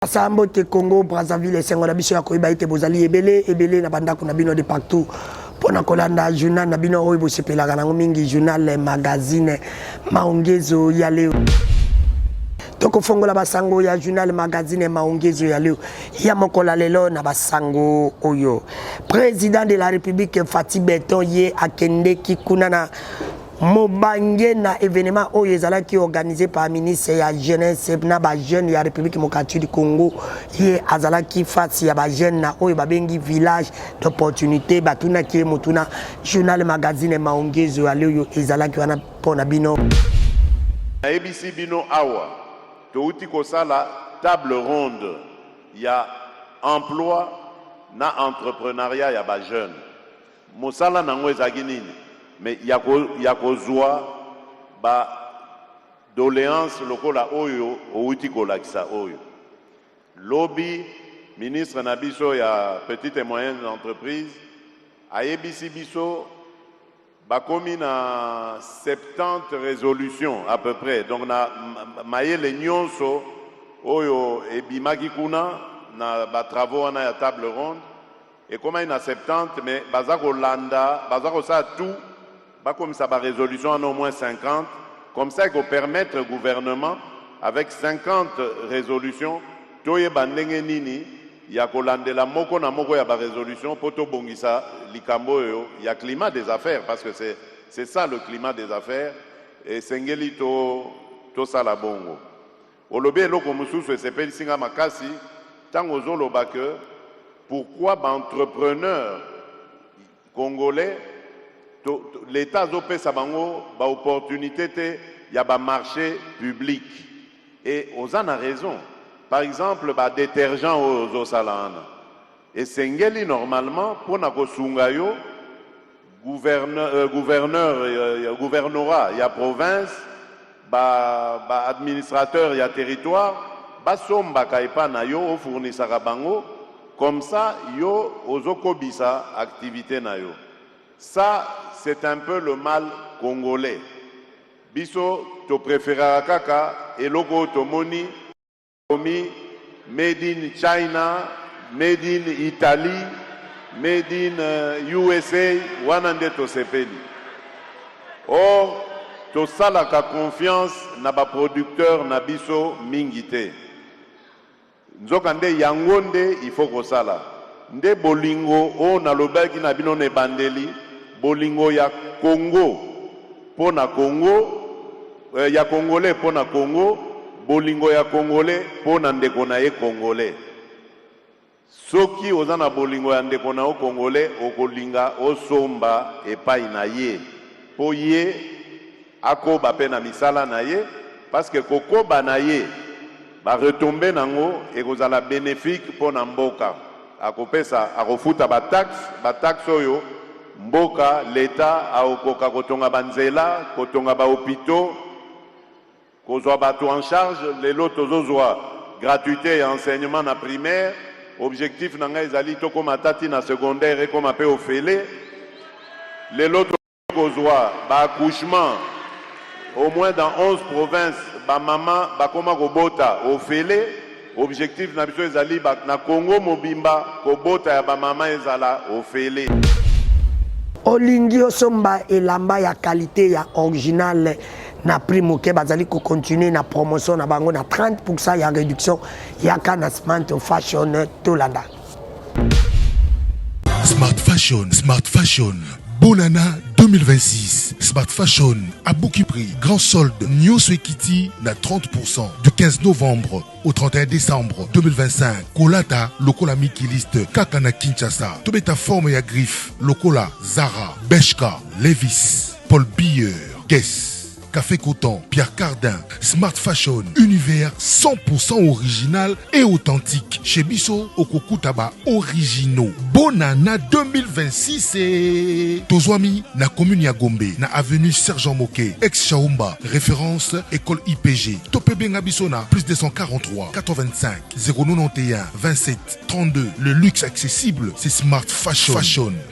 Sa mbote Congo Brazzaville esengo na biso ya koyeba ete bozali ebele ebele na bandako na bino de partout mpo na kolanda journal na bino oyo bosepelaka nango mingi journal magazine maongezo ya leo tokofongola basango ya journal magazine maongezo ya leo ya mokola lelo na basango oyo président de la république fati beton ye akendeki kuna na Mobange na evenement oyo ezalaki organise par ministre ya jeunesse na ba jeunes ya République démocratique du Congo ye azalaki face ya ba jeunes na oyo babengi village d'opportunité batunaki ye motuna journal magazine maongezo ya leo ezalaki wana mpo na bino nayebisi bino awa touti kosala table ronde ya emploi na entreprenariat ya ba jeunes Mosala na yango ezalaki nini? Mais ya ko ya kozua ba doleances lokola oyo owuti kolakisa oyo. Lobi ministre na biso ya petites et moyennes entreprises ayebisi biso bakomi na 70 resolutions à peu près donc na mayele nionso oyo ebimaki kuna na ba travaux wana ya table ronde, Ekomaki na Septante mais baza kolanda baza kosala tout bakomisa ba resolutions wana au moins 50 comme ça eko permettre gouvernement avec 50 resolutions toyeba ndenge nini ya kolandela moko na moko ya ba resolutions mpo tobongisa likambo oyo ya climat des affaires parce que c'est c'est ça le climat des affaires esengeli to tosala bongo. Olobi eloko mususu esepelisi nga makasi tango ozo loba que pourquoi ba entrepreneurs congolais to l'etat azo pesa bango ba opportunites te ya ba marches publics et oza na raison par exemple ba detergents oyo ozo sala wana esengeli normalement pona ko sunga yo Gouverneur, euh, gouverneur euh, gouvernorat ya province ba, ba administrateur ya territoire basombaka epa na yo ofurnisaka bango comme ça yo ozokobisa activité na yo ça c'est un peu le mal congolais biso topréféraka kaka eloko oyo tomoni Bakomi made in China, made in Italie, made in USA, wana nde tosepeli. Or, tosalaka confiance na ba producteurs na biso mingi te. Nzokande, yango nde il faut kosala. Nde bolingo oyo nalobelaki na bino na ebandeli, bolingo ya Congo. po na Congo eh, ya Congolais po na Congo, bolingo ya Congolais po na ndeko na ye Congolais. Soki oza na bolingo ya ndeko na yo Congolais, okolinga osomba epai na ye po ye akoba pe na misala na ye, parce que kokoba na ye Ba retombees nango ekozala benefique po na mboka. Akopesa, akofuta ba taxes, ba taxes oyo mboka, l'Etat, akokoka kotonga ba nzela, kotonga ba hopitaux, kozua batu en charge. Lelo tozozua gratuite ya enseignement na primaire. Objectif na ngai ezali tokoma ata ti na secondaire ekoma pe ofele. Lelo to. kozwa ba accouchement au moins dans 11 provinces ba mama bakoma kobota ofele objectif na biso ezali na Congo mobimba kobota ya ba mama ezala ofele olingi osomba elamba ya qualité ya original na prix moke bazali kocontinue na promotion na bango na 30 pourcent ya réduction yaka na smart fashion tolanda Smart Fashion, Smart Fashion. Bonana 2026. Smart Fashion à Bouki Prix. Grand solde New Swekiti na 30% du 15 novembre au 31 décembre 2025. Kolata lokola mikiliste kaka na Kinshasa. Tobeta forme ya griffe lokola Zara, Beshka, Levis, Paul Beer, Guess. Cafe Coton, Pierre Cardin, Smart Fashion, univers 100% original et authentique. Chez Bisso, Okokuta ba originaux. Bonana 2026 et Tozoami na commune ya Gombe, na avenue Sergent Moke, ex Chaumba, référence école IPG. Topé Benga Bisso na plus 243 85 091 27 32. Le luxe accessible, c'est Smart Fashion. Fashion.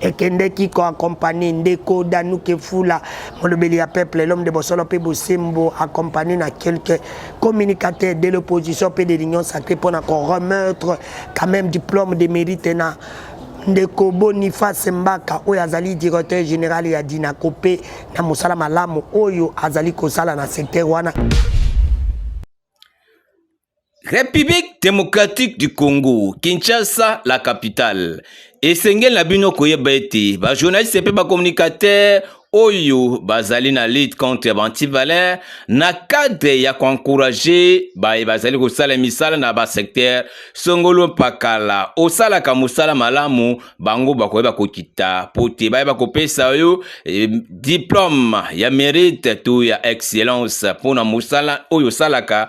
ekendeki ko accompagner ndeko Danuke Fula molobeli ya peuple l'homme de bosolo mpe bosembo accompagné na quelques communicateurs de l'opposition mpe de l'union sacrée mpo na ko remettre quand même diplôme de mérite na ndeko boniface mbaka oyo azali directeur général ya dinaco mpe na mosala malamu oyo azali kosala na secteur wana République démocratique du Congo, Kinshasa, la capitale. Esengeli na bino koyeba ete ba journalistes mpe ba communicateurs oyo bazali na lutte contre bantivalin na cadre ya koencourage baye bazali kosala misala na basecteur songolo mpakala osalaka mosala malamu bango bakoyeba kokita mpo te bayeba kopesa yo eh, diplome ya merite to ya excellence mpo na mosala oyo osalaka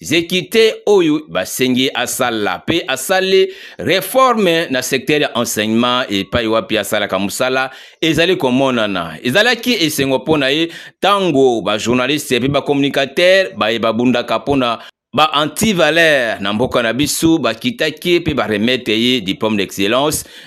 zekite oyo basengi asala mpe asali reforme na secteur ya enseignement epai wapi asalaka mosala ezali komonana ezalaki esengo mpo na ye ntango bajournaliste mpe bacommunicateur baye babundaka mpo na ba antivaleur na mboka na biso bakitaki mpe baremete ye diplome d'excellence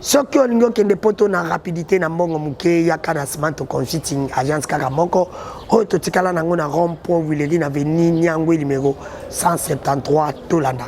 soki olingi okende poto na rapidité na mbongo moke yaka na smanto consulting agence kaka moko oyo totikala nango na rond point wileri na veni niangwe numero 173 tolanda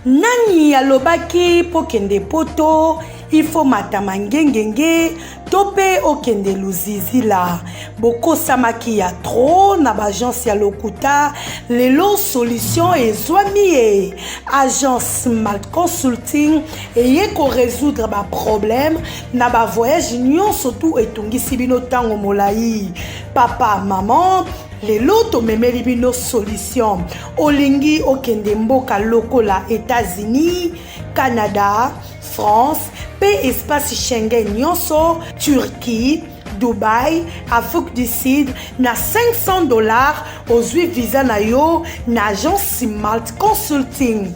nani alobaki mpo kende poto ifo matama ngengenge to mpe okende luzizi la bokosamaki ya tro na baagence ya lokuta lelo solution ezwami ye agence mal consulting eye koresoudre baproblème na bavoyage nyonso tu etungisi bino ntango molai papa maman lelo tomemeli bino solution olingi okende mboka lokola etats-unis canada France pe espace Schengen nionso, Turquie, Dubaï, Afrique du Sud na 500 dollars ozui visa na yo na agence Malt Consulting.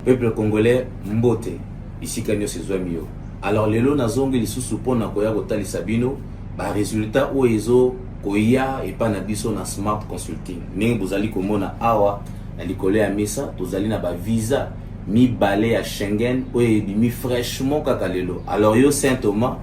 Peuple congolais mbote bisika nionso ezwami yo. Alors lelo nazongi lisusu mpo na koya kotalisa bino ba resultats oyo ezo koya epa na biso na Smart Consulting ndenge bozali komona awa Na likolo ya mesa, tozali na ba visa mibale ya Schengen oyo ebimi fraîchement kaka lelo. Alors yo Saint Thomas,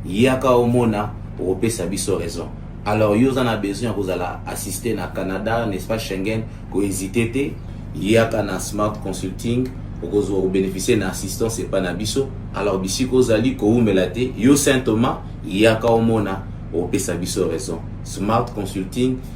yaka omona okopesa biso raison. Alors yo oza na besoin ya kozala assisté na Canada, n'est-ce pas Schengen, ko hésiter te, yaka na Smart Consulting okozwa kobénéficier na assistance epai na biso. Alors bisika ozali kowumela te, yo Saint Thomas, yaka omona okopesa biso raison. Smart Consulting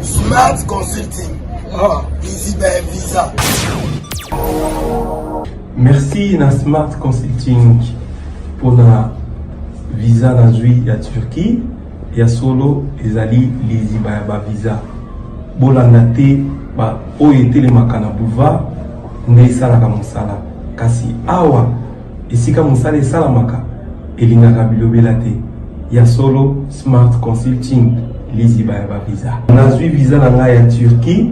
Smart Consulting. Ah. Busy by Visa. Merci na Smart Consulting pour la visa na zui ya Turquie ya solo ezali liziba ya ba visa. Bolanda te ba oyo etelemaka na boulevard nde esalaka mosala kasi awa Esika mosala esalamaka elingaka bilobela te. Ya solo, Smart Consulting, liziba ya ba visa. Nazwi visa na ngai ya Turquie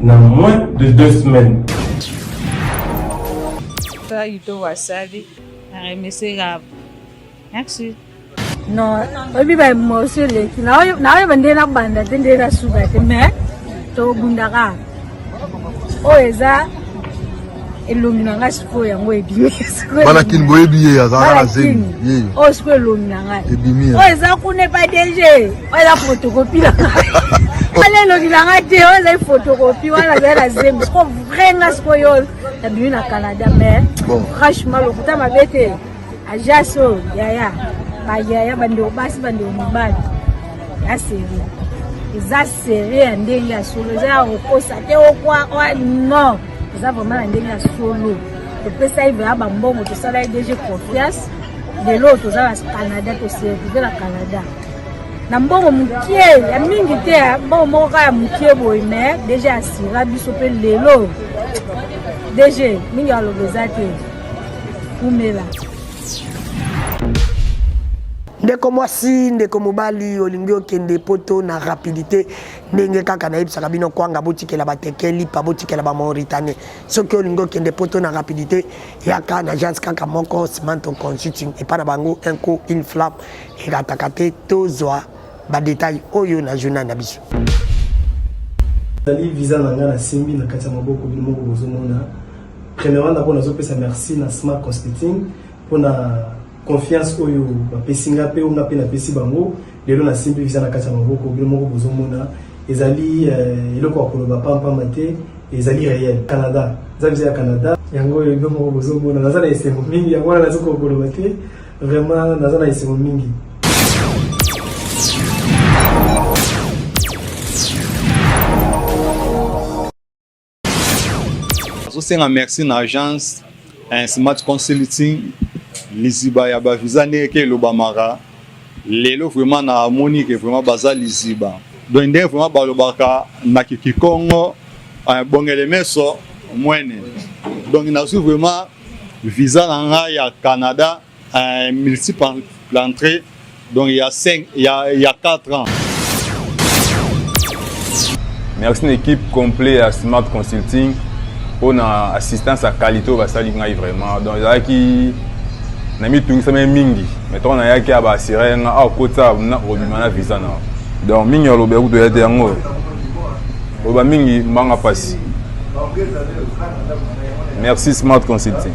na moins de deux semaines. Toi, Ito Wasabi, na remercie Merci. Non, oyebi ba morceau eleki naoyeba nde nabanda te nde nasuka te mais tobundaka oyo eza elongi na ngai sikoyo yango ebimi bana kini boyebi ye azalaka na zemi oyo sikoyo elongi na ngai ebimi oyo eza kuna epa dg oyo eza fotokopi na ngai wana elongi na ngai te oyo ezali fotokopi wana azali na zemi sikoyo vrai ngai sikoyo nabimi na canada mais franchement lokuta mabe te Ajas oyo yaya bayaya bandeko basi bandeko mibali ya seri eza seri ya ndenge ya solo eza ya kokosa te okwa oa non eza vraiment na ndenge ya solo topesaki vrema bambongo tosalaki dg confiance lelo oyo toza na canada toservive na canada na mbongo mokie ya mingi te mbongo moko kaka ya mokie boye me deja asira biso mpe lelo dg mingi aloba eza te Umela. ndeko mwasi ndeko mobali olingi okende poto na rapidité ndenge kaka nayebisaka bino kwanga botikela bateke lipa botikela bamauritanie soki olingi okende poto na rapidité yaka na agence kaka moko simanto consulting epai na bango un coup une flamme erataka te tozwa badetail oyo na journal na biso ezali visa na ngai nasimbi na kati ya maboko bino moko bozomona Premièrement d'abord nazo pesa merci na Smart Consulting pona confiance oyo bapesi nga pe nga pe napesi bango lelo nasimbi visa na kati ya maboko bino moko bozomona ezali euh, eloko ya koloba pampamba te ezali réel Canada eza visa ya Canada yango oyo bino moko bozomona naza na esengo mingi yango wana nazo koloba te vraiment naza na esengo mingi tosenga merci na agence eh, smart consulting liziba ya bavisa ndenge ke elobamaka lelo vraiment namoni ke vraiment baza liziba donc ndenge vraiment balobaka na kikikongo eh, bongele meso mwene donc nazwi vraiment visa na ngai ya canada Un multiple entrée, donc il y a 5, il y a, il y a 4 ans. Merci une équipe complète à Smart Consulting. On a assistance à qualité au basali ngai vraiment. Donc là qui na mi tungi sa mingi. Mais toi on a yaki à basire nga au côté ça on a obimana visa na. Donc mingi au lobe kuto yete yango. Oba mingi manga pasi. Merci Smart Consulting.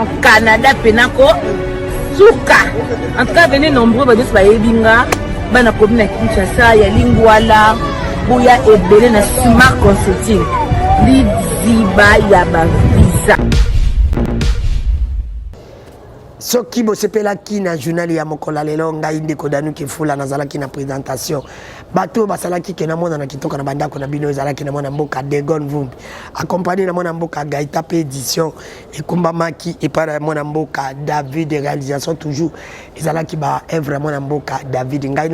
en canada mpe nako suka en tout cas vene nombreux bato nyonso bayebi nga bana komi na kinshasa ya lingwala boya ebele na smart consulting liziba ya bavisa soki bosepelaki na journal ya mokolo ya lelo ngai ndeko danuki fula nazalaki na présentation bato oyo basalaki ke namona na kitoka na bandako na bino ezalaki na mwana mboka degon vumbi accompagné na mwana mboka gaita mpe édition ekumbamaki epai ya mwana mboka david realisation toujours ezalaki baevre ya mwana mboka david ngai na